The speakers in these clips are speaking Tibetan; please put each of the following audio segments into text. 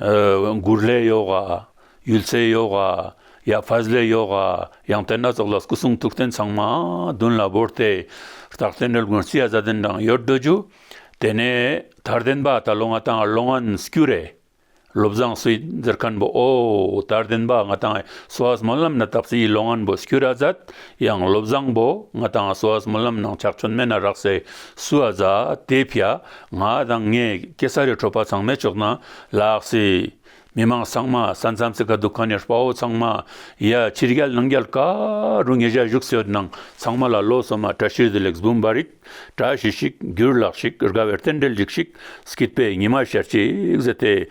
མགུར་ལས་ཡོ་ག། ཡུལ་ཚེའི་ཡོ་ག། ཡབ་བྷལ་ལས་ཡོ་ག། ཡང་དེ་སྣ་ཚོགས་ལ་སྐུ་གསུང་ཐུགས་རྟེན་ཚང་མ་བདུན་ལ་བོར་ཏེ། རྟག་བརྟན་རོལ་མགུར་རྩི་ཡ་བཟའ་ལྡན་དང་ཡོད་འདོད་རྒྱུ། དེ་ནས་དར་ལྡན་པ་ད་ལོ་ང་དང་བློ་ངན་སྐྱུ་རེ། བློ་བཟང་སུས་འཛེར་མཁན་པོ་ཨོ། དར་ལྡན་པ་ང་དང་སོ་ཨས་སྨོན་ལམ་ན་དག་སའི་བློ་ངན་པོ་སྐྱུ་ར་བཟའད་ཡང་བློ་བཟང་པོ་ང་དང་སོ་ཨས་སྨོན་ལམ་ནང་ཆགས་ཆོད་མེད་ན་རག་སའི་སུ་ཨ་བཟའད་དེ་ཕྱ། ང་དང་ངའི་སྐྱེ་ས་རི་ཁྲོད་པ་ཚང་མས་ཅོག་ནང་ལགས་སི། མི་མང་ཚང་མ་ས་མཚམས་ཚིག་ཁ་འདུག་ཁ་ནས་དཔའ་བོ་ཚང་མ། ཡ་ཕྱི་རྒྱལ་ནང་རྒྱལ་ཀ་རུ་ངེད་ཅག་བཞུགས་སོད་ནང་ཚང་མ་ལ་ལོ་སོ་མ་བཀྲ་ཤིས་བདེ་ལེགས་བུམ་པ་རིག་བཀྲ་ཞི་ཞིག་འགྱུར་ལགས་ཞིག་དགའ་བའི་རྟེན་འབྲེལ་ལེགས་ཤིག་སྐྱིད་པའི་ཉི་མ་ཤར་ཅིག་ཟེར་ཏེ།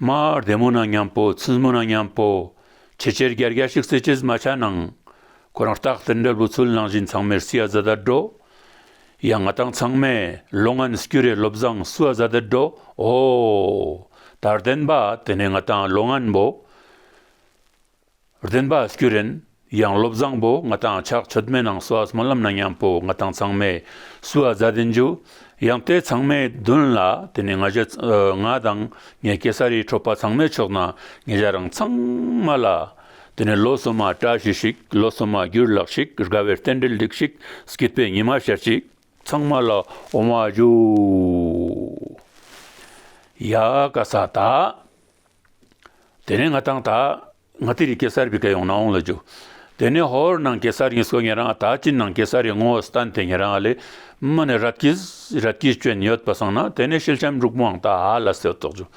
མ་བདེ་མོ་ན་མཉམ་པོ་ཚིལ་མོ་ན་མཉམ་པོ་ཆེ་ཆེར་རྒྱ་རྒྱ་ཞིག་བསྲེས་ཆེས་མ་ཆག་ནང་ཁོ་རང་རྟག་ཏུ་འབྲས་བུ་ཚུལ་སྣང་བཞིན་ཚང་མས་བསུ་ཡ་བཟའ་ད་འགྲོ་ཡ་ང་དང་ཚང་མས་ལོ་ལྔ་ནས་བསྐྱུར་རེ་བློ་བཟང་བསུ་བ་བཟའ་ད་འགྲོ་ཨོ། དར་ལྡན་པ་དེ་ནས་ང་དང་ལོ་ལྔ་འབོ། བདེན་པ་སྐྱུ་རེན་ཡང་བློ་བཟང་པོ་ང་དང་ཆགས་ཆོད་མེད་ནང་སོ་སྨོན་ལམ་ན་མཉམ་པོ་ང་དང་ཚང་མས་སུ་ཨ་བཟའ་དེ་འཇུ་ཡང་དེ་ཚང་མས་བདུན་ལ་དེ་ནས་ང་བཞི་ང་དང་ངའི་གེ་སར་རིའི་ཁྲོད་པ་ཚང་མས་ཆོག་ན་ངེད་བཞག་རང་ཚང་མ་ལ་དེ་ནས་ལོ་སུ་མ་བཀྲ་ཤིས་ཤིག་ལོ་སུ་མ་རྒྱུར་ལགས་ཤིག་དགའ་བའི་རྟེན་འབྲེལ་སྒྲིག་ཤིག་སྐྱིད་པའི་ཉི་མ་ཤར་ཅིག། ཚང་མ་ལ་འོང་བ་བྱོས། ཡ་ག་ས་དག། དེ་ནས་ང་དང་ད། ང་དེ་རིང་ཀེ་སར་བི་ཀ་ཡོང་ན་འོང་ལ་རྒྱུ། དེ་ནས་ཧོར་ནང་ཀེ་སར་ཡིན་སོ་ངེད་རང་ད་ཅིན་ནང་ཀེ་སར་རེད་ངོ་སི་ཏན་དེ་ངེད་རང་ལས་མི་ནས་རབ་ཀྱིས་རབ་ཀྱིས་བྱོན་ཡོད་པ་སང་ན་དེ་ནས་ཤེལ་ཆམ་འབྲུག་མང་ད་ཧ་ལ་སེ་ཏོག་རྒྱུ།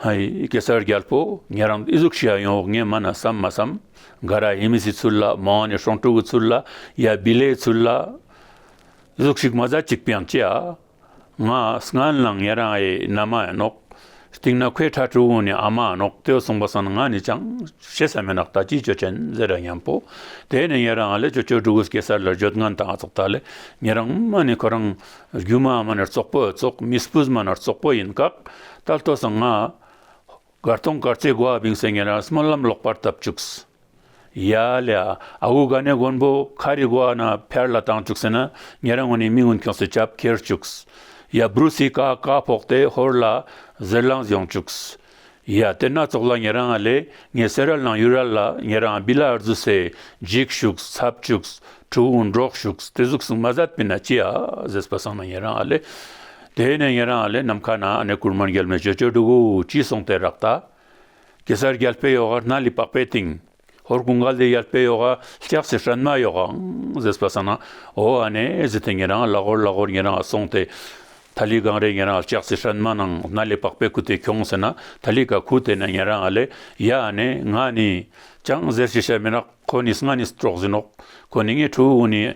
ཧཧཧཧ་ཀེ་སར་རྒྱལ་པོ་ངེད་རང་ཨི་ཟུག་ཤི་ཡ་ཡོང་ངེད་མ་ན་བསམ་མ་བསམ་ག་ར་ཧི་མི་སི་ཚུལ་ལ་མང་ནས་ཧྲོང་ཀྲུག་གི་ཚུལ་ལ་ཡ་བི་ལའི་ཚུལ་ལ་ཟུག་ཤིག་མ་ཟ་ཅིག་པའང་ཅི་ཨ། ང་སྔ་ན་ངེད་རང་ཨའི་ན་མ་ཡིན་ནོག། སྟེང་ན་ཁོའི་ཁྲ་ཁྲུ་བོ་ནི་ཨ་མ་ཡིན་ནོག་ཏེ་གསུངས་པ་སང་ང་ནི་ཅང་བྱེད་ས་མེད་ནག་ད་ཅིའི་ཆོས་ཅན་ཟེར་ར་སྙམ་པོ། དེ་ནས་ངེད་རང་ཨ་ལས་ཆོས་ཆོས་སྒྲུག་གེ་སར་ལ་བརྗོད་ངན་དང་ཙོག་ད་ལས་ངེད་རང་མ་ནི་ཁོ་རང་རྒྱུ་མ་མ་ནར་ཙོག་པོ་ཙོག་མིས་སྤུས་མ་ནར་ཙོག་པོ་ཡིན་ཀག་ད་ལྟོ་སང་ང། སྒར་སྟོང་སྒར་རྩེ་དགོ་ཨ་བིང་སེང་གེ་རང་སྨོན་ལམ་ལོག་པར་བཏབ་བཅུགས། ཡ། ལེ་ཨ་ཨ་ཨུ་ག་ནས་མགོན་པོ་ཁ་རི་དགོ་ཨ་ན་ཕེར་ལ་བཏང་བཅུགས་ཟེར་ན་ངེད་རང་ངོ་ནས་མི་སྔོན་ཁྱོགས་སུ་བྱབ་ཁྱེར་བཅུགས། ཡ། བུརུ་སི་ཀ་ཀ་ཕོག་སྟེ་ཧོར་ལ་ཟེར་ལངས་ཡོང་བཅུགས། ཡ། དེ་སྣ་ཚོགས་ལ་ངེད་རང་ལེ་ངེ་སེ་ར་ལང་ཡུ་ར་ལ་ངེད་རང་བི་ལ་ཨར་རྫུ་སེ་འཇིགས་བཅུགས་ཚབ་བཅུགས་ཁྲུ་བོ་འབྲོག་བཅུགས་དེ་གཟུགས་སུ་མ་ཟད་པི་ན་ཅི་ཨ་ཟེས་པ་སང་ན་ངེད་རང་ལེ། དེ་ནས་ངེད་རང་ལས་ནམ་མཁའ་ན་གནས་གུར་མར་འགྱེལ་མེད་ཅོ་ཅོ་འདུག་ཅེས་གསུངས་ཏེ་རག་ལྟ། གེ་སར་རྒྱལ་པོའི་ཡོ་ག་སྣ་ལི་པགས་པའི་སྟེང། ཧོར་ཀུན་དགའ་ལྡན་ཡལ་པའི་ཡོ་ག་ལྕགས་ཀྱི་ཧྲན་མ་ཡོ་གའང་ཟེར་བ་ས་ན་འོ་ཨ་ནེ་ཟེར་ཏེ་ངེད་རང་ལ་གོར་ལ་གོར་ངེད་རང་ལ་སོང་སྟེ། ད་ལི་གང་རེད་ངེད་རང་ལྕགས་ཀྱི་ཧྲན་མ་ནང་སྣ་ལི་པགས་པའི་ཁུ་དེ་གྱོང་ཟེར་ན་ད་ལི་ག་ཁུ་དེ་ནས་ངེད་རང་ལས་ཡ་ཨ་ནེ་ང་ནི་ཅང་ཟེར་ཞེས་བཤད་མི་ནག་ཁོ་ནི་སྔ་ནས་སྤྲོག་ཟིན་ནོག་ཁོ་ནི་ངའི་ཕྲུ་གུ་ནི།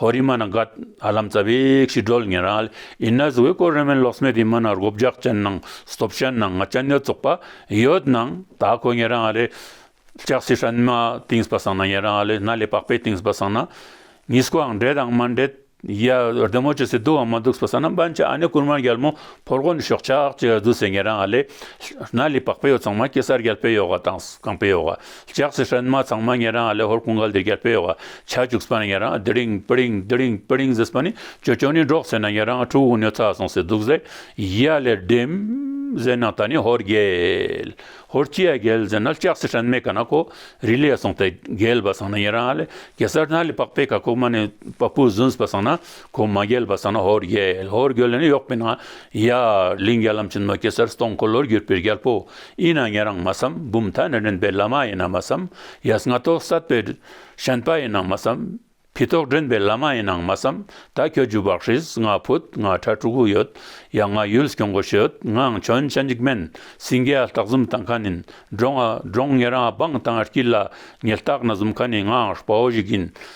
ཧོ་རི་མ་ན་གྷད་ཨ་ལམ་ཙྪ་བེ་ཀྱི་སྒྲོལ་ངན་ར་ལི་ཨི་ན་ཟི་ཝེ་ཀོ་རེ་མན་ལོག་སྨད་དེ་མ་ན་རྒོ་བརྒྱག་ཅན་ནང་སྟོབས་ཅན་ནང་ང་ཅན་ནེ་ཙོག་པ་ཡོད་ནང་ད་ཁོ་ངན་ར་ང་ལེ་ལྕགས་སི་ཧྲན་མ་ཏིང་སྤ་སང་ན་ངན་ར་ང་ལེ་ན་ལེ་པག་པེ་ཏིང་སྤ་སང་ན་ངི་སྐོ་ཨང་འདྲེ་དང་མ་འདྲེ་ཡ་རྡེ་མོ་ཅི་སི་དུ་ཨང་མ་དུག་སྤ་སང་ན་འབན་ཅི་ཨ་ནེ་ཀུར་མ་རྒྱལ་མོ་ཕོ་རྒོ་ནི་ཤོག་ཆག་ཅི་ཨ་དུ་སེ་ངན་ར་ང་ལེ་ན་ལེ་པག་པེ་ཡོ་ཚང་མ་ཀེ་སར་རྒྱལ་པེ་ཡོ་ག་དང་གང་པེ་ཡོ་ག། ལྕགས་ཀྱི་ཧྲན་མ་ཚང་མ་ཉན་རང་ལེ་ཧོར་ཀུན་དགའ་ལྡེ་རྒྱར་སྤེལ་བ་བྱ་བཅུག་ཟིན་པ་ན་ཉན་རང་དི་ལིང་པི་ལིང་དི་ལིང་པི་ལིང་ཟིས་པ་ནི་ཇོ་ཇོ་ནི་འགྲོགས་ཟེར་ན་ཉན་རང་ཕྲུག་གུ་ཉོ་ཚར་སོང་ཟེར་འདུག་ཟེར་ཡ་ལེར་བསྡེམ། ཟེར་ན་ད་ནི་ཧོར་རྒྱལ། ཧོར་སྐྱི་ཡ་རྒྱལ་ཟེར་ན་ལྕགས་ཀྱི་ཧྲན་མས་ག་ན་ཀོ་རི་ལས་སོང་སྟེ་རྒྱལ་བ་ཟང་ན་ཉན་རང་ལེ་གེ་སར་ན་ལི་པགས་པས་ག་ཀོ་མ་ནི་པགས་པུ་ཟིན་ཟིས་པ་ཟང་ན། གོང་མ་རྒྱལ་བ་ས་ན་ཧོར་རྒྱལ་ཧོར་རྒྱལ་ལས་ནི་གཡོག་པའི་ན་ཡ་གླིང་རྒྱ་ལམ་ཆེན་མོ་གེ་སར་སྟོང་འཁོར་ལོར་གྱུར་པའི་རྒྱལ་པོ་ཡིན་ན་ངེད་རང་མ་བསམ་འབུམ་ཐ་ན་འདྲེན་པའི་བླ་མ་ཡིན་ན་མ་བསམ་ཡས་སྔ་ཐོག་གསར་པའི་ཞན་པ་ཡིན་ན་མ་བསམ་ཕི་ཐོག་འདྲེན་པའི་བླ་མ་ཡིན་ན་མ་བསམ་ད་ཁྱོད་རྒྱུ་བག་ཧྲིལ་ང་ཕུད་ང་ཁྲ་ཕྲུ་གུ་ཡོད་ཡ་ང་ཡུལ་སྐྱོང་གོ་ཤོད་ངའང་ཁྱོད་ཅན་འཇིགས་མེད་སྲིན་རྒྱལ་སྟག་འཛུམ་དང་ཁ་ནིན་འབྲོང་འབྲོང་ངེད་རང་འབངས་དང་དཀྱིལ་ལ་ཉིལ་སྟག་ན་འཛུམ་ཁ་ནིན་ངའང་དཔའ་བོ་ཞིག་ཡིན་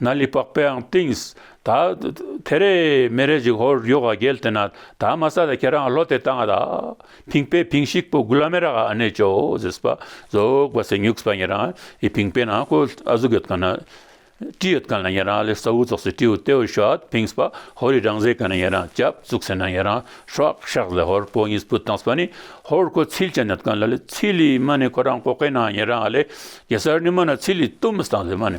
ན་ལི་པགས་པའང་བཏིངས། ད་དེ་རས་མེ་རས་ཅིག་ཧོར་ཡོ་ག་བརྒལ་དེ་ན་ད་མ་ས་ད་ཁྱེད་རང་ལྷོ་དེ་དང་ད་བིང་པའི་བིང་ཤིག་པོ་གུ་ལ་མེ་ར་ག་ཨ་ནེ་ཅོ་ཟིས་པ་རྫོགས་པ་སེ་ཉུགས་པ་ཉེ་རང་ཡི་བིང་པའི་ནང་ཁོ་ཨ་གཟུགས་ཡོད་ག་ན་ཀྲི་ཡོད་ག་ན་ཉེ་རང་ལི་ས་འུ་རྫོགས་སེ་ཀྲི་འུ་ཏེའུ་ཤོད་བིང་པ་ཧོར་ཡི་རང་ཟེ་ག་ན་ཉེ་རང་ཅབ་བཙུགས་སེ་ན་ཉེ་རང་ཧྲོག་ཤག་ཟེ་ཧོར་པོ་གཉིས་སྤུ་དང་སྤ་ནི་ཧོར་ཁོ་ཚིལ་ཅན་ཡོད་ག་ན་ལི་ཚིལ་ལི་མ་ནི་ཁོ་རང་ཀོ་ཀེ་ན་ཉེ་རང་ལི་གེ་སར་ནི་མ་ན་ཚིལ་ལི་ཏུམ་སྟངས་ཟེ་མ་ནི་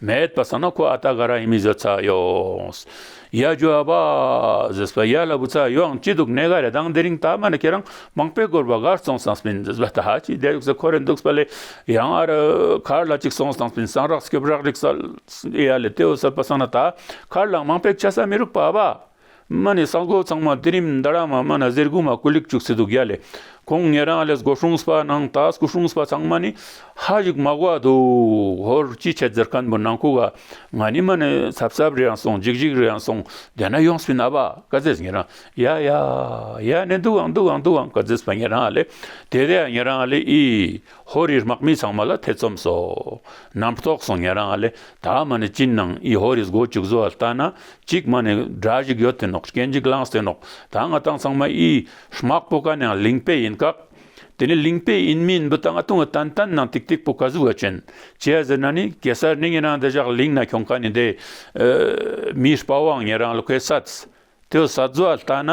མེད་པ་ས་ན་ཁོ་ཨ་ཏཱ་ག་ར་ཡིན་མི་བཟོད་ཚ་ཡོངས། ཡ་རྒྱུ་ཨ་ཕ། ཟེར་བ་ཡ་ལ་བུ་ཚ་ཡོངས་ཅི་འདུག་གནས་ག་རེ་དང་དེ་རིང་ད་མ་ནི་ཁྱེད་རང་མང་པོས་སྒོར་བ་གར་སོང་སངས་མིན་ཟེར་བ་ད་ཅི་བསྡད་ཡོག་ས་ཁོ་རེ་འདུག་བ་ལས་ཡང་ཨ་རི་གར་ལ་ཅིག་སོང་སངས་མིན་སངས་རགས་སྐྱོབ་རགས་རིགས་ས་ཨེ་ཡ་ལས་དེ་འོ་ཟེར་བ་ས་ན་ད་གར་ལ་མང་པས་ཆ་ས་མི་རུག་པ་ཨ་ཕ། མ་ནི་ས་འགོ་ཚང་མ་དེ་རིམ་མདའ་ར་མ་མ་ན་གཟེར་གུ་མ་སྐུ་ལིག་བཅུག་སི་འདུག་ཡ་ལེ་ཁོང་ངེད་རང་ལེས་སྒོ་ཧྲུངས་པ་ནང་ད་སྐུ་ཧྲུངས་པ་ཚང་མ་ནི་ཧ་ཞིག་མ་གོ་བ་འདུག་ཧོར་ཅི་ཆད་ཛེར་ཁན་པོ་ནང་ཁུག་ག་ང་ནི་མ་ནི་ཚབ་ཚབ་རེ་རང་སོང་འཇིག་འཇིག་རེ་རང་སོང་དེ་ན་ཡོངས་སི་ན་བ་ཀ་ཛེས་ངེད་རང་ཡ་ཡ་ཡ་ནི་འདུག་ཨང་འདུག་ཨང་འདུག་ཨང་ཀ་ཛེས་པ་ངེད་རང་ལེ་དེ་དེ་ཡ་ངེད་རང་ལེ་ཨི། ཧོར་རིའི་དམག་མི་ཚང་མ་ལ་ཐེ་ཚོམ་སོགས་རྣམས་རྟོགས་སོང་ཉལ་རང་ལས་ད་མ་ནི་ཅིན་ནང་ཨི་ཧོར་རིའི་སྒོ་བཅུག་བཟོ་བ་ལྟ་ན་གཅིག་མ་ནི་དགྲ་ཞིག་ཡོད་དེ་ནོག་སྐྱེ་འཇིག་ལངས་སེ་ནོག་ད་ང་ཏང་ཚང་མ་ཨི་དམག་པོ་ཀ་ནའང་ལིང་པེ་ཡིན་ཀག་དེ་ནི་ལིང་པེ་ཨིན་མིན་འབུ་ད་ང་ཏུང་ཨི་ཏན་ཏན་ནང་ཏིག་ཏིག་པོ་ཀ་གཟུག་ཨ་ཅན་ཅེ་ཟེར་ན་ནི་གེ་སར་ནི་ངེད་རང་འདི་བཞག་ལིང་ན་ཁྱོང་ཀ་ནི་འདི་མིའི་སྤ་བང་ངེད་རང་ལ་ཁོའི་སད་ཏོའི་སད་བཟོ་བ་ལྟ་ན།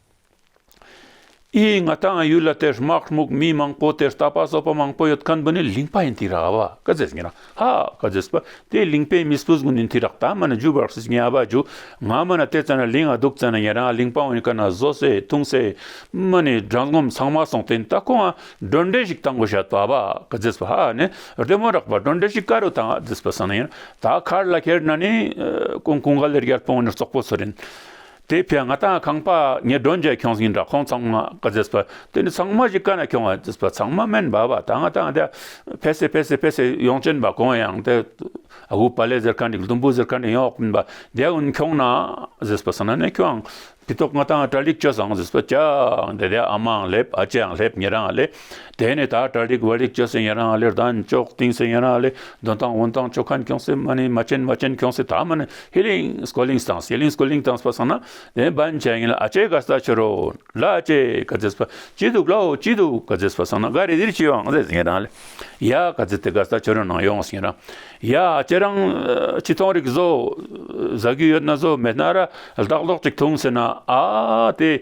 ཨེ་ཡིན་ང་ལྟ་ང་ཡུལ་ལ་དེར་དམག་དམུག་མི་མང་པོ་དེར་ལྟ་པ་སོགས་པ་མང་པོ་ཡོད་ཁན་བུ་ནི་ལིང་པ་ཡིན་ཏི་ར་བ་ཀ་ཛེས་ངེ་རང་ཧ་ཀ་ཛེས་པ་དེ་ལིང་པའི་མི་སྤུ་ཟུག་ནི་ཏི་རག་ད་མ་ནི་ཇུ་བར་སིས་ངེ་ཨ་བ་ཇུ་ང་མ་ན་དེ་ཙ་ན་ལིང་ཨ་དུག་ཙ་ན་ངེ་རང་ལིང་པའོ་ཡིན་ཁ་ན་ཟོ་སེ་ཐུང་སེ་མ་ནི་དགྲ་ངོམ་ཚང་མ་སོང་ཏེ་ད་ཁོང་ཨ་སྒྲོན་འདྲེ་ཞིག་ད་མགོ་ཞ་ཏོ་ཨ་བ་ཀ་ཛེས་པ་ཧ་ནི་རེ་མོ་རག་པ་སྒྲོན་འདྲེ་ཞིག་ཀ་རུ་ད་ཨ་ཛེས་པ་སང་ན་ཡིན་ད་ཁར་ལ་ཁེར་ན་ནི་ཀོང་ཀོང་ག་ལེར་ཡར་པོང་ནི་ཙོག་པོ་ཚོ་རིན་དེའི་ཕན་ང་དང་ཁང་པ་ངའི་སྒྲོན་མཇལ་ཁྱོངས་ཟིན་འདྲ་ཁོང་ཚང་མ་ཀ་རྫེས་པ་དེ་ནི་ཚང་མ་ཞིག་ཀ་ན་ཁྱོངས་བ་རྫེས་པ་ཚང་མ་མན་འབར་བ་དང་ང་དང་འདྲ་ཕེ་སེ་ཕེ་སེ་ཕེ་སེ་ཡོངས་ཅན་པ་གོང་ཡང་དེ་དབུ་པ་ལས་ཟེར་ག་འགྲིག་དུམ་བུ་ཟེར་ག་འགྲིག་ཡོངས་ཨོག་མན་པ་རྒྱལ་ཨུན་ཁྱོངས་ན་རྫེས་པ་ས་ན་ནས་ཁྱོའང་དེ་ཐོག་ང་དང་འདྲ་ལིག་ཅོ་བཟང་རྫེས་པ་ཅག་འདྲ་དེ་ཨ་མའང་སླེབས་ཨ་ཅེའང་སླེབས་ངེད་རང་ལས་དེ་ནས་ད་ཏྲ་རིག་བར་རིག་བྱེད་སེམས་ཡན་རང་ལེར་ལྡན་མཆོག་དེང་སེམས་ཡན་རང་ལེ་འདོན་དང་འོན་དང་མཆོག་གན་འཁྱོངས་སེམས་མ་ནི་མ་ཅན་མ་ཅན་འཁྱོངས་སེ་ད་མ་ནི་ཧི་ལིང་སྐོ་ལིང་སྟངས་སི་ལིང་སྐོ་ལིང་སྟངས་པ་སང་ན་དེ་འབའ་མཆན་ཡིན་ལ་ཨ་ཅེ་ག་ས་ཆུ་རོ་ལ་ཨ་ཅེ་ག་ཛེས་པ་ཅི་འདུག་ལ་ཨོ་ཅི་འདུག་ག་ཛེས་པ་སང་ན་ག་རེ་ཟིར་ཅི་ཡོང་ཟེས་ཡན་རང་ལེ་ཡ་ག་ཛེ་དེ་ག་ས་ཆུ་རོ་ནང་ཡོང་ཟེས་ཡན་རང་ཡ་ཨ་ཅེ་རང་ཅི་ཐོང་རིག་བཟོ་ཟ་རྒྱུ་ཡོད་ན་བཟོ་མེད་ན་ར་ལྡག་ལྡོག་ཅིག་ཐུང་ཟེར་ན་ཨ་དེ་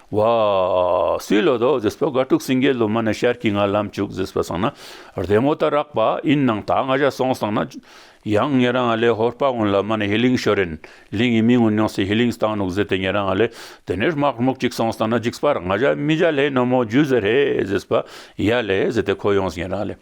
བ། སུའི་ལོ་ཏོ་ཟེར་པ་དགའ་དྲུག་སེང་གེའི་ལོ་མ་ནས་ཤར་གྱི་ངར་ལམ་བཅུག་ཟེར་བ་སང་ན་རྡེལ་མོ་ལྟར་རགས་པ་ཨིན་ནང་ད་ང་ཤ་སོང་སང་ན་ཡང་ངེད་རང་ང་ལས་ཧོར་པ་ངོ་ལ་མ་ནས་ཧི་ལིང་ཤོ་རེན་ལིང་ཡི་མི་ངོ་ཉོང་སི་ཧི་ལིང་སྟང་ནུག་ཟེར་ཏེ་ངེད་རང་ང་ལས་དེ་ནས་རྨག་རྨུག་ཅིག་སོང་སང་ན་འཇིགས་པར་ང་ཤ་མི་བྱ་ལྷའི་ནོ་མོ་རྒྱུ་ཟེར་ཧེ་ཟེར་བ་ཡ་ལས་ཟེར་ཏེ་ཁོ་ཡོང་ཟི་ངེད་རང་ལས།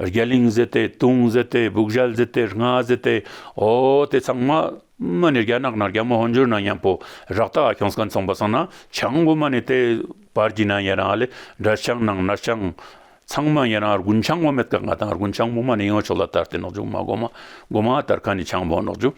རྒྱ་གླིང་བཟི་སྟེ་དུང་བཟི་སྟེ་སྦུག་བཞལ་བཟི་སྟེ་རྔ་བཟི་སྟེ་ཨོ་དེ་ཚང་མ། མ་ནི་རྒྱ་ནག་ན་རྒྱ་མོ་ཧོན་འཇུར་ན་ཡན་པོ་རག་ཏག་ཤོང་སྐ་མཚོང་པ་སང་ན་ཆང་བུ་མ་ནི་དེ་བར་གྱི་ན་ཡན་རང་ཨ་ལེ་འདྲ་ཆང་ནང་ན་ཆང། ཚང་མ་ཡན་རང་ཨར་གུན་ཆང་བུ་མེད་ཀ་ང་དང་ཨར་གུན་ཆང་བུ་མ་ནི་ཡོང་ཆོག་ལ་ལྟར་དེ་ནག་འཇུག་མ་སྒོ་མ་སྒོ་མ་ལྟར་ཁ་ནི་ཆང་བུ་ནག་འཇུག།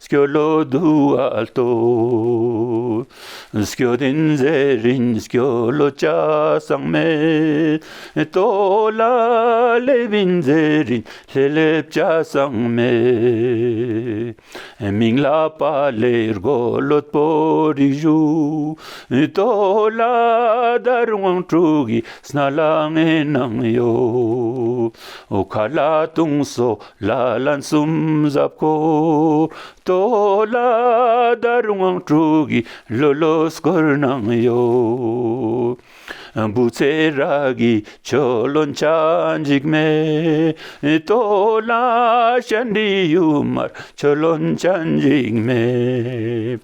སྐྱོ་བློ་བསྡུ་བ་ལྟོས། སྐྱོ་དོན་མཛད་རིན་སྐྱོ་བློ་བཅའ་གསང་མེད་ལྟོས། ལ་ལས་བིན་མཛད་རིན་ལྷེ་ལེ་བཅའ་གསང་མེད། མིང་ལ་པ་ལས་སྒོ་བློ་དཔོ་རིགས་བཞུགས་ལྟོས། ལ་དར་དབང་དྲུག་གིས་སྣ་ལ་ངན་སྣང་གཡོ། མཁའ་ལ་དུང་སོ་ལ་ལ་འཛུམ་ཟབ་གོ་ཏོ་ལ་དར་དབང་དྲུག་གི་ལོ་ལོ་སྐོར་གནང་གཡོ། འབུ་ཚའི་རག་གི་ཆོ་ལོ་འཆ་འཇིགས་མེ་ཏོ་ལ་ཤ་འདྲིས་ཡུ་མར་ཆོ་ལོ་འཆ་འཇིགས་མེ།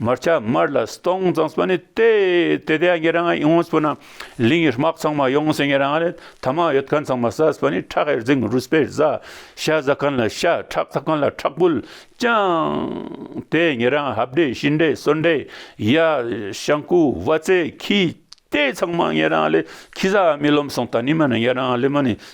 མར་ཆ་མར་ལ་སྟོང་ཙང་སྤ་ནི་ཏེ་ཏེ་ཏེ་ཡ་ངེ་རང་ཡིན་ཨོང་སྤུ་ན་ལིང་ཡི་སྨག་ཚང་མ་ཡོང་སེ་ངེ་རང་ལེ་ཐ་མ་ཡོད་གན་ཚང་མ་ས་སྤ་ནི་ཁྲག་ཡེར་རྫིང་རུས་སྤེ་བཟའ་ཤ་བཟའ་གན་ལ་ཤ་ཁྲག་ཚ་གན་ལ་ཁྲག་བུལ་ཅང་ཏེ་ངེ་རང་ཧབ་འདྲེ་ཤི་འདྲེ་སོ་འདྲེ་ཡ་ཤང་ཀུ་བ་ཙེ་ཁི་ཏེ་ཚང་མ་ངེ་རང་ལེ་ཁི་བཟའ་མི་ལོམ་སོང་ད་ནི་མ་ནི་ངེ་རང་ལེ་མ་ནི་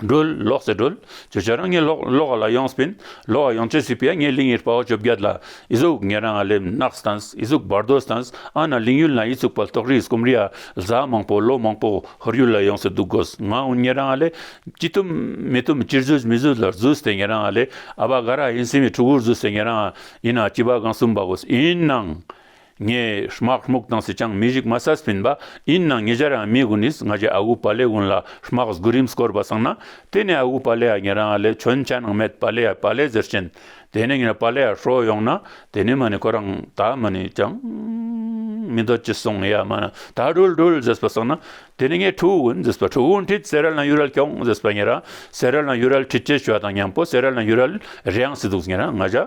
སྒྲོལ། ལོག་སེ་སྒྲོལ། ཇོ་ཇོ་རང་ངའི་ལོག་ལོག་ག་ལ་ཡོང་སྤིན། ལོག་ག་ཡོང་བྱེད་སྲིད་པས་ངའི་ལིང་ཡིར་པའོ་བཅོ་བརྒྱད་ལ། ཨི་གཟུགས་ངེ་རང་ཨ་ལེམ་ནགས་སྟངས་ཨི་གཟུགས་བར་དོ་སྟངས་ཨ་ན་ལིང་ཡུལ་ན་ཨི་ཚུགས་པ་ལྟོགས་རིས་སྐོམ་རིས་ཨ་བཟའ་མང་པོ་ལོ་མང་པོ་ཧོར་ཡུལ་ལ་ཡོང་སེ་འདུག་གོ་ང་འུ་ངེ་རང་ཨ་ལེ། ཅི་བཏུམ་མི་བཏུམ་ཅིར་བཟོས་མི་བཟོས་ལ་བཟོས་སྟེ་ངེ་རང་ཨ་ལེ་ཨ་བ་ག་ར་ཨིན་སེམས་ཡིག་ཕྲུ་གུར་བཟོས་སེ་ངེ་རང་ཨ་ཡིན་ཨ་སྐྱིད་པ་གང་གསུམ་པ་གོ་ཨིན་ནང། ངའི་དམག་སྨུག་དྭངས་སུ་ཅང་མི་རིག་མ་ས་སྤིན་པ་ཡིན་ནང་ངེད་ཅག་རང་མི་དགུ་ནིས་ང་ཅག་ཨ་ཁུ་བ་ལའི་དགུན་ལ་དམག་སྒུག་རིམས་བསྐོར་བ་སང་ན་དེ་ནས་ཨ་ཁུ་བ་ལའི་ཨ་ངེད་རང་ཨ་ལའི་ཁྱོད་ཅག་ནང་མེད་བ་ལའི་ཨ་བ་ལའི་ཟེར་ཅན་དེ་ནས་ངེད་བ་ལའི་ཨ་ཧྲོ་ཡོང་ན་དེ་ནས་མ་ནི་ཁོ་རང་ད་མ་ནི་ཅང་མི་འདོད་ཅི་སོང་ཡ་མ་ན་ད་དྲུལ་དྲུལ་ཟེར་བ་སང་ན་དེ་ནས་ངས་ཁྲུའུ་ཝུན་ཟེར་བ་ཁྲུའུ་ཝུན་ཁྲིད་ཟེར་ར་ལ་ཡུ་རལ་ཁྱོང་ཟེར་བ་ངེད་རང་ཟེར་ར་ལ་ཡུ་རལ་ཁྲིད་ཅེས་བྱོས་བ་དང་མཉམ་པོ་ཟེར་ར་ལ་ཡུ་རལ་རེའང་སི་འདུག་ངེད་རང་ང་ཅག་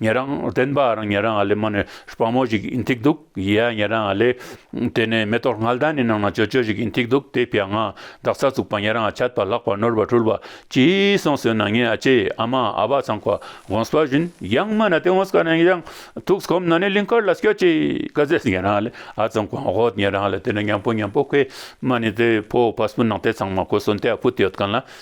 ཉེ་རང་བསྟན་པ་རང་ཉེ་རང་ཨ་ལེ་མ་ནི་སྤང་མོ་ཞིག་ཨིན་ཐིག་འདུག་ཡེ་ཡ་ཉེ་རང་ཨ་ལེ། དེ་ནས་མེ་ཏོག་སྔར་ལྟར་ནི་ནང་ན་ཅོ་ཅོ་ཞིག་ཨིན་ཐིག་འདུག་དེ་ཕྱག་ན་འདག་ཚ་བཙུགས་པ་ཉེ་རང་ཨ་ཆད་པ་ལག་པ་ནོར་བ་འཁྲུལ་བ་ཅི་གསང་ཟོས་ན་ངའི་ཨ་ཅེ་ཨ་མ་ཨ་བ་ཚང་ཁ་གོངས་པ་བཞིན་ཡང་མ་ན་དེ་འོངས་ཀ་ནས་ཡང་ཐུགས་གོམས་ན་ནི་ལིང་ཁར་ལ་སྐྱོ་ཅེས་ཀ་ཟས་ཉེ་རང་ཨ་ལེ་ཨ་ཚང་ཁོ་ཨོ་ཉེ་རང་ཨ་ལེ་དེ་ནས་ཉམས་པོ་ཉམས་པོ་ཁོས་མ་ནི་དེ་ཕོ་བ་སྤུ་ནག་དེ་ཚང་མ་ཁོ་སོ་འདས་ཕུད་ཡོད་ག་ན་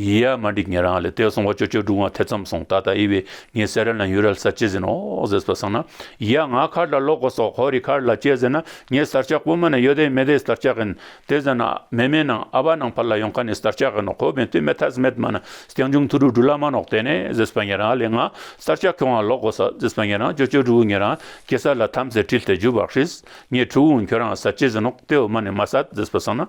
ཡི་ཡ་མ་འགྲིག་ངེད་རང་ལས་ཏེ་སོང་བ་ཅོ་ཅོ་སྒྲུང་བ་ཐེ་ཚོམ་སོང་ད་ལྟ་དབྱི་བས་ངའི་སེ་རལ་ན་ཡུ་རལ་སར་སྐྱེས་ཟིན་ནོ་ཟེར་སོ་བསམ་ན་ཡི་ཡ་ང་ཁར་ལ་ལོག་གོ་སོག་ཧོ་རི་ཁར་ལ་སྐྱེས་ཟེར་ན་ངའི་སར་ཆག་སྤུ་མ་ནས་ཡོད་དེ་མེད་དེ་སར་ཆག་གིན་དེ་ཟེར་ན་ཨ་མེ་མེ་ནང་ཨ་བ་ནང་ཕར་ལ་ཡོང་ཁ་ནས་སར་ཆག་གིན་ནོ་ཁོ་བས་དུས་མེ་ཐ་སི་མེད་མ་ན་སྐྱང་ཆུང་ཐུ་རུ་གྲུ་ལ་མ་ནོག་དེ་ནས་ཟེར་སོ་ངེད་རང་ལས་ང་སར་ཆག་ཁྱོད་རང་ལོག་གོ་སོག་ཟེར་སོ་ངེད་རང་ཅོ་ཅོ་སྒྲུ་བོ་ངེད་རང་སྐྱེས་སར་ལ་ཐམ་སེ་དྲིལ་ཏེ་རྒྱུ་བག་ཧྲིས་ངས་ཁྲུ་བོ་ཁྱོད་རང་སར་སྐྱེས་ཟིན་ནོག་དེ་འོ་མ་ནས་མ་སར་ཟེར་སོ་བསམ་ན།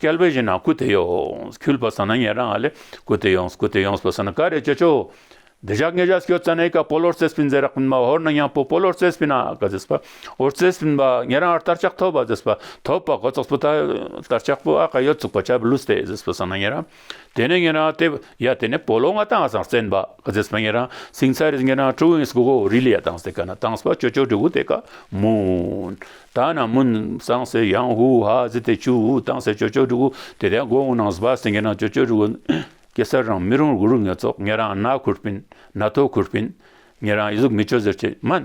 བསྐལ་པའི་བཞིན་ན་སྐུ་དེ་ཡོངས་སུ་འཁྱུད་པར་བསམ་ན་ཉན་རང་ཨ་ལས་སྐུ་དེ་ཡོངས་སུ་སྐུ་དེ་ཡོངས་སུ་བསམ་ན་ག་རེ་བྱེད་ཆོག། འདི་ཞག་ལྔས་ཞག་ཤོད་ཙ་ནའི་ཀ་པོ་ལོར་རྩེ་སྤིན་ཛེ་རག་པིན་མ་ཧོར་ནང་ཡང་པོ་པོ་ལོར་རྩེ་སྤིན་ཨ་ཀ་ཛེས་པ་ཧོར་རྩེ་སྤིན་པ་ཉན་རང་ཨར་ལྟར་ཆགས་ཐོབ་པ་ཟེས་པ་ཐོབ་པ་གོ་ཙོགས་པོ་ད་ལྟར་ཆགས་པོ་ཨ་ཀ་ཡོད་ཙུག་པ་ཆ་བུ་ལུས་ཏེ་ཟེས་པ་བསམ་ན་ཉན་རང་དེ་ནས་ངེད་རང་དེབ་ཡ་དེ་ནས་པོ་ལོ་ང་ཏང་ཟང་བཙན་པ་རྫེས་པ་ངེད་རང་སིང་ཚ་རིས་ངེད་རང་ཀྲུའུ་ཡིན་སྒོ་གོ་རི་ལི་ཡ་ཏང་ཟེ་ག་ན་ཏང་སྤ་ཅོ་ཅོ་དྲུ་གུ་དེ་ཀ་མུན་ད་ན་མུན་ཟང་ཟེ་ཡང་ཧུ་ཧ་ཟི་དེ་ཅུ་ཧུ་ཏང་ཟེ་ཅོ་ཅོ་དྲུ་གུ་དེ་དེ་གོ་ཧུ་ནང་ཟི་པ་ཟེ་ངེད་རང་ཅོ་ཅོ་དྲུ་གུ་གེ་སར་རང་མི་རུང་རུ་རུ་ངེད་ཚོགས་ངེད་རང་ན་ཁུར་པིན་ན་ཐོ་ཁུར་པིན་ངེད་རང་ཡི་གཟུགས་མི་ཅོ་ཟེར་ཆེ་མན།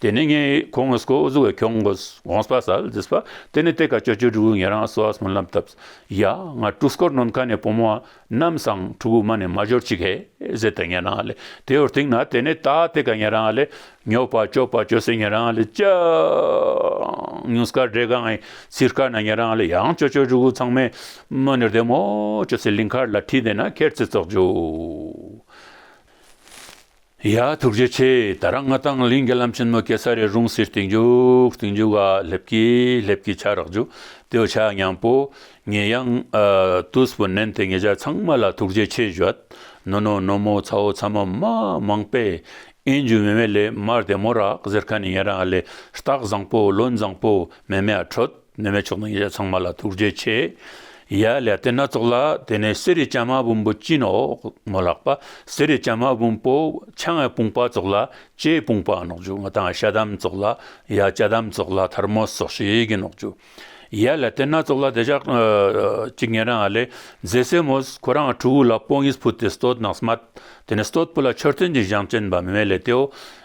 དེ་ནས་ངས་ཁོང་ངོ་སྐོར་བཟོ་བའི་ཁྱོང་གོ་གོང་སྤ་སལ་རྫི་སྤ་དེ་ནས་དེ་ཀ་ཅོ་ཅོ་ཕྲུ་གུ་ངེད་རང་བཟོ་བ་སོང་ལབ་སྟབས་ཡ་ང་ཕྲུག་སྐོར་ནོར་མཁའ་ནས་བུ་མོ་རྣམས་སང་ཕྲུ་གུ་མ་ནས་མ་འབྱོར་ཅིག་ཧེ་ཟེར་ཏེ་ངེད་རང་ལས་དེ་ཡོར་དེང་ན་དེ་ནས་ད་དེ་ཀ་ངེད་རང་ལས་ཉོ་བ་སྤྱོ་བ་སྤྱོ་སའི་ངེད་རང་ལས་ཅང་ཉུང་སྐར་སྒྲས་གང་ངའི་ཚིག་སྐར་ན་ངེད་རང་ལས་ཡང་ཅོ་ཅོ་ཕྲུ་གུ་ཚང་མས་མོ་ནེར་དེ་མོ་ཅོ་སའི་ལིང་ཁར་ལ་ཁྲིད་དེ་ན་ཁེར་ཚི་ཙོག་ཅོ། ཡ། ཐུགས་རྗེ་ཆེ། ད་རང་ང་དང་གླིང་གི་ལམ་ཆེན་མོ་གེ་སར་རའི་རུང་སེར་སྟེང་རྒྱུག་སྟེང་རྒྱུག་ག་སླེབས་ཀི་སླེབས་ཀི་ཆ་རག་འཇུག་དེའོ་ཆ་སྙང་པོ་ངེད་གཡང་ཏུས་པོ་ནན་ཏེ་ངེད་ཅག་ཚང་མ་ལ་ཐུགས་རྗེ་ཆེ་བཞོད་ནོ་ནོ་ནོ་མོ་ཚ་བོ་ཚ་མོ་མ་མང་པས་ཨེན་རྒྱུ་མེ་མེ་ལེ་མར་དེ་མོ་རག་ཟེར་ཁ་ནས་ངེད་རང་ལས་རྟགས་བཟང་པོ་བློན་བཟང་པོ་མེ་མེ་ཨ་ཁྲོད། ནུ་མའི་ཕྱོགས་དང་ཉེ་བྱ་ཚང་མ་ལ་ཐུགས་རྗེ་ཆེ། ཡ། ལས་དེ་སྣ་ཚོགས་ལ་དེ་ནས་གསེར་རི་སྤྱན་མ་བུམ་པོ་སྤྱིན་འོག་མོ་ལག་པ་གསེར་རི་སྤྱན་མ་བུམ་པོ་ཕྱག་ངའི་དཔུང་པ་སྩོགས་ལ་ལྕེའི་དཔུང་པ་ནག་འཇུ་ང་དང་ཤ་དམ་སྩོགས་ལ་ཡ། ལྕེ་དམ་སྩོགས་ལ་དར་མོ་སོགས་ཞེས་ཀྱི་ནག་འཇུ། ཡ། ལས་དེ་སྣ་ཚོགས་ལ་དེ་ཕྱག་གཅིག་ངན་རང་ལས་རྫས་སེ་མོ་ཁོ་རང་ཁྲུ་བོ་ལ་པོང་ངེས་ཕུལ་ཏེ་སྟོད་ནགས་སྨད་དེ་ནས་སྟོད་བུ་ལ་མཆོད་རྟེན་གྱི་བཞེངས་བསྐྲན་པ་མི་མེད་ལས་དེའོ།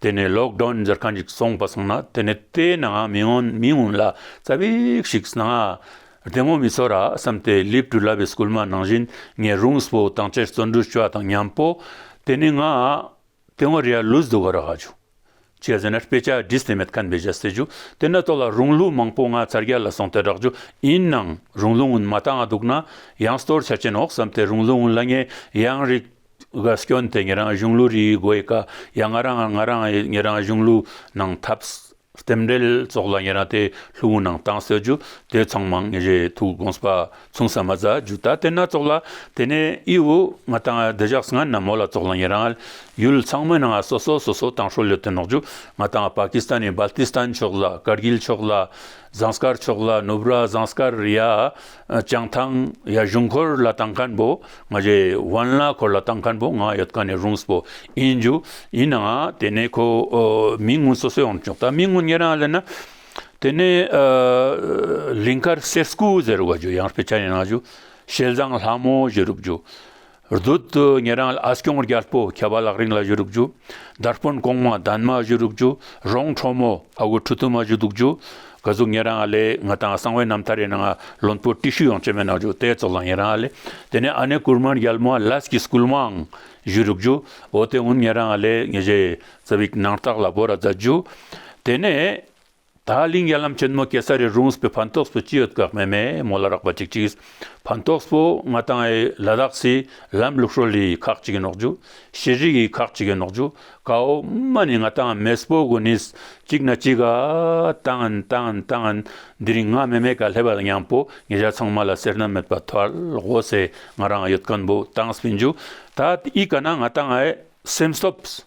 དེ་ནས་ལོག་གྲོན་འཛེར་ག་འཇིག་སོང་བ་སོང་ན་དེ་ནས་ལྟས་ན་མི་མངོན་མི་མངོན་ལ་རྩ་བའི་ཞིག་སྣང་ང། དེ་ངོ་མི་ཚོ་ར་བསམ་ཏེ་ལིབ་ཏུ་ལབ་བས་སྐུལ་མ་ནང་བཞིན་ངས་རུང་སྤོ་དང་བཅས་བརྩོན་འགྲུས་བཅའ་དང་ཉམས་པོ། དེ་ནས་ང། དེ་ངོ་རེ་ཡ་ལུས་སྡུག་ག་ར་ག་ཅུ། བྱས་ཟེར་ན་དཔེ་ཆ་འདི་སེ་མེད་ཁན་བེ་བཞའ་སེ་ཅུ་དེ་ནས་ལྟོ་ལ་རུང་ལུས་མང་པོ་ང་ཚར་རྒྱ་ལ་སོང་སྟེ་བསྒྲགས་ཅུ་ཡིན་ནང་རུང་ལུས་ངུན་མ་ད་ང་སྡུག་ན་ཡང་སྟོར་ཆ་ཅན་འོག་བསམ་ཏེ་རུང་ལུས་ངུན་ལ་ངས་ཡང་རིགས། དགའ་སྐྱོན་དེ་ངེད་རང་གཞུང་ལུགས་རིགས་དགོས་ཡི་ཀ་ཡ་ང་རང་ང་རང་ངེད་རང་གཞུང་ལུགས་ནང་ཐབས་རྟེན་འབྲེལ་སོགས་ལ་ངེད་རང་དེ་ལྷུག་མུ་ནང་བཏང་སྲོད་རྒྱུ་དེ་ཚང་མང་ངེད་རེ་ཐུག་དགོངས་པ་མཚུངས་ས་མ་ཛ་རྒྱུ་ད་དེ་སྣ་ཚོགས་ལ་དེ་ནས་ཨི་ཨུ་ང་དང་བདེ་གཞག་སི་ང་ན་མོ་ལ་སོགས་ལ་ངེད་རང་ཡུལ་ཚང་མི་ནང་སོ་སོ་སོ་སོ་དང་ཧྲོ་ལོ་དེ་ནོག་རྒྱུ་ང་དང་པ་ཀི་སི་ཐན་ནས་སྦལ་ཏི་སི་ཐན་ཕྱོགས་ལ་ཀར་གྷིལ་ཕྱོགས་ལ་ཟངས་དཀར་ཕྱོགས་ལ་ནུབ་ར་ཟངས་དཀར་རི་ཡ་བྱང་ཐང་ཡ་གཞུང་འཁོར་ལ་དང་མཁན་པོ་ང་རྗེ་དབོན་ལ་འཁོར་ལ་དང་མཁན་པོ་ང་ཡོད་ག་ནས་རུང་སྤོ་ཨིན་རྒྱུ་ཡིན་ནའང་དེ་ནས་ཁོ་མི་དངུལ་སོ་སོས་ཨོང་ཆོག་ད་མི་དངུལ་ཉེ་རང་ལེན་ན་དེ་ནས་ལིང་ཁར་སེར་སྐུ་ཟེར་བ་རྒྱུ་ཡང་སྤེ་ཆ་ཡིན་རང་རྒྱུ་ཞལ་བཟང་ལྷ་མོ་བཞི་རུབ་རྒྱུ་བདུད་དུ་ངེད་རང་ལ་ཨ་སྐྱོང་རྒྱལ་པོ་ཁྱད་པར་ལག་རིང་ལ་བཞུ་རུག་རྒྱུ། དར་དཔོན་གོང་མ་དཱན་མ་བཞུ་རུག་རྒྱུ། རོང་ཁྲོ་མོ་ཨ་དབུ་ཁྲུ་དུ་མ་བཞུ་རྡུག་རྒྱུ། ག་ཟུག་ངེད་རང་ལས་ང་དང་གསང་བའི་རྣམ་ཐར་རེ་གནང་ཨ་བློན་པོ་ཏི་ཤུ་ཡང་བཅོས་མེད་གནང་རྒྱུ་དེ་ཙོག་ལ་ངེད་རང་ལས་དེ་ནས་ཨ་ནེ་ཀུར་མཱན་རྒྱལ་མོ་ལཱས་ཀི་སྐུལ་མའང་བཞུ་རུག་རྒྱུ། འོ་དེ་སྔོན་ངེད་རང་ལས་ངེད་བཞེས་ཙེ་བིག་ནང་རྟགས་ལ་བོ་ར་བརྫད་རྒྱུ། དེ་ནས། ད་གླིང་ཡར་ལམ་ཆེན་མོ་ཀེ་སར་རི་རུང་སྤི་ཕན་ཏོགས་སྤོ་ཅི་ཡོད་དགག་མེད་མེད་མོ་ལ་རག་པ་ཅིག་ཅིག་ཕན་ཏོགས་སྤོ་ང་དང་ཨེ་ལ་དག་སི་ལམ་ལུགས་ཧྲོ་ལི་ཁག་ཅིག་གི་ནོག་ཇུ་ཤེས་རིག་གི་ཁག་ཅིག་གི་ནོག་ཇུ་ཀའོ་མ་ནི་ང་དང་མེ་སྤོ་དགོ་ནིས་ཅིག་ན་ཅིག་ག་དང་དང་དང་འདི་རིང་ང་མེ་མེ་ག་ལྷེ་བ་ལ་ཉང་པོ་ངེ་ཇག་ཚང་མ་ལ་སེར་སྣ་མེད་པ་ཐལ་དགོ་སེ་ང་རང་ཡོད་ཀན་པོ་དང་སྤི་འཇུ་ད་ཨི་ག་ན་ང་དང་ཨེ་སེམས་སྟོབས།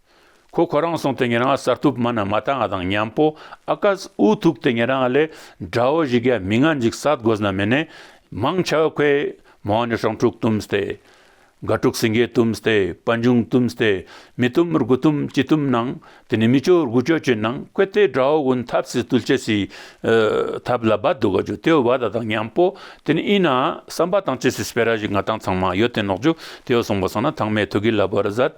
ཁོ་ཁོ་རང་སོང་སྟེ་ངེད་རང་གསར་ཐུབ་མ་ན་མ་ཐང་ང་དང་མཉམ་པོ་ཨ་ཀ་ཨུ་ཐུག་སྟེ་ངེད་རང་ལས་འདྲ་བོ་ཞིག་གི་མི་ང་འཇིག་ས་དགོས་ན་མི་ནས་མང་ཆ་བོ་ཁོས་མ་འོངས་ནས་ཧྲང་ཕྲུག་བཏུམས་ཏེ། དགའ་ཕྲུག་སེང་གེ་བཏུམས་ཏེ་པ་འབྱུང་བཏུམས་ཏེ་མི་བཏུམ་རྒུ་བཏུམ་ཅི་བཏུམ་གནང་དེ་ནས་མི་ཅོ་རྒུ་ཅོ་ཅི་གནང་ཁོས་ལྟས་འདྲ་བོ་ཝུན་ཐབས་སི་ཏུལ་ཅེ་སི་ཐབས་ལ་བ་དུ་ག་ཅུ་ཏེའོ་བ་ད་དང་མཉམ་པོ་དེ་ནས་ཨི་ན་སམ་པ་དང་ཅེ་སི་སི་པེ་ར་ཞིག་ང་དང་ཚང་མ་ཡོད་དེ་ནོག་ཅུ་ཏེའོ་སོང་པ་སོང་ན་ཐང་མའི་ཐུག་གི་ལ་བར་ཟད།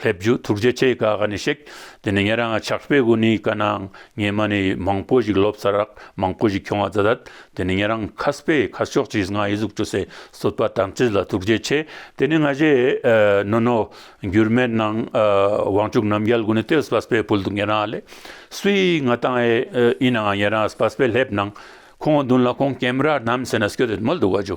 སླེབས་རྒྱུ་ཐུགས་རྗེ་ཆེ་ག་ག་ནས་ཤིག་དེ་ནས་ངས་རང་ཆགས་པའི་སྒོ་ནས་ག་གནང་ངས་མ་ནི་མང་པོ་ཞིག་ལོབས་ས་རག་མང་པོ་ཞིག་ཁྱོང་བ་ད་དེ་ནས་ངས་རང་ཁ་སྤེ་ཁ་ཤོག་ཅིག་ང་ཡི་གཟུགས་བྲོ་སའི་བསོད་པ་དམ་ཚིག་ལ་ཐུགས་རྗེ་ཆེ་དེ་ནས་ང་གཞས་ནོ་ནོ་འགྱུར་མེད་གནང་དབང་ཕྱུག་རྣམ་རྒྱལ་དགོན་ནས་ཏེ་སྤ་སྤེ་ཕུལ་འདུག་ངས་རང་ལས་སུའི་ང་བཏང་ཨེ་ཡིན་ནའང་ངས་རང་སྤ་སྤེ་སླེབས་གནང་ཁོང་འདུན་ལ་ཁོང་ཀེམ་ར་ནམ་ཟེ་ན་སྐྱོ་དེ་མོལ་འདུག་བ་ཇོ།